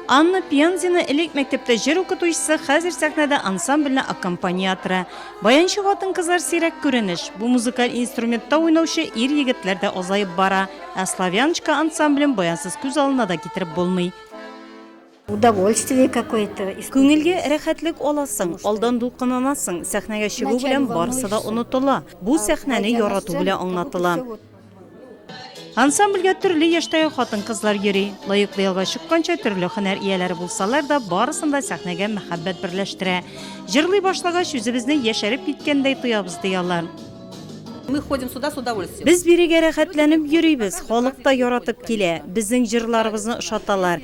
Анна Пензина элек мәктәптә җыр укытучысы, хәзер сәхнәдә ансамбльне аккомпаниаторы. Баянчы хатын-кызлар сирәк күренеш. Бу музыкаль инструментта уйнаучы ир-егетләр дә азаеп бара. Ә Славяночка ансамблен баянсыз күз алына да китереп булмый. Удовольствие какое то. Күңелгә рәхәтлек аласың, алдан дулкынланасың, сәхнәгә чыгу белән барысы да онытыла, бу сәхнәне ярату белән аңлатыла. Ансамбльгә төрле яшьтәге хатын-кызлар йөри. Лаеклы ялга чыкканча, төрле һөнәр ияләре булсалар да, барысын да сәхнәгә мәхәббәт берләштерә. Җырлый башлагач, үзебезне яшәреп киткәндәй тоябыз, ди алар. Мы ходим сюда с удовольствием. Без бирегә рәхәтләнеп йөрибез, халык та яратып килә, безнең җырларыбызны ошаталар.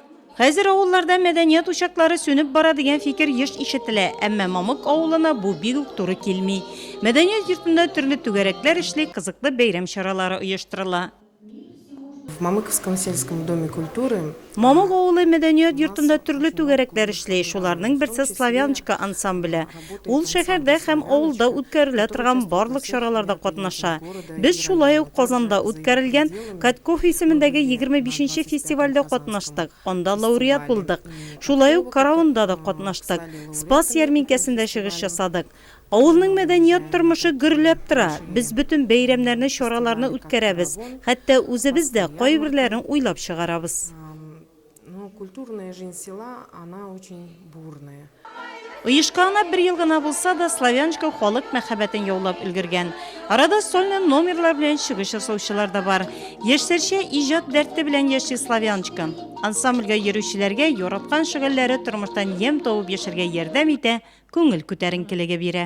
Хәзер авылларда мәдәният учаклары сүнеп бара дигән фикер еш ишетелә, әмма Мамык авылына бу бик үк туры килми. Мәдәният йортында төрле түгәрәкләр эшли, кызыклы бәйрәм чаралары оештырыла. В Мамыковском сельском доме культуры Мамык авылы мәдәният йортында төрле түгәрәкләр эшли, шуларның берсе Славяночка ансамбле. Ул шәһәрдә һәм авылда үткәрелә торган барлык чараларда катнаша. Без шулай ук Казанда үткәрелгән Катков исемендәге егерме бишенче фестивальдә катнаштык, анда лауреат булдык. Шулай ук Караунда да катнаштык, Спас ярминкәсендә чыгыш ясадык. Авылның мәдәният тормышы гөрләп тора, без бөтен бәйрәмнәрне, чараларны үткәрәбез, хәтта үзебез дә кайберләрен уйлап чыгарабыз. Ну, культурная жизнь села, она очень бурная. Оешканына бер ел гына булса да, Славяночка халык мәхәббәтен яулап өлгергән. Арада сольный номерлар белән чыгыш ясаучылар да бар. Яшьләрчә иҗат дәрте белән яши Славяночка. Ансамбльгә йөрүчеләргә яраткан шөгыльләре тормыштан ем табып яшәргә ярдәм итә, күңел күтәренкелеге бирә.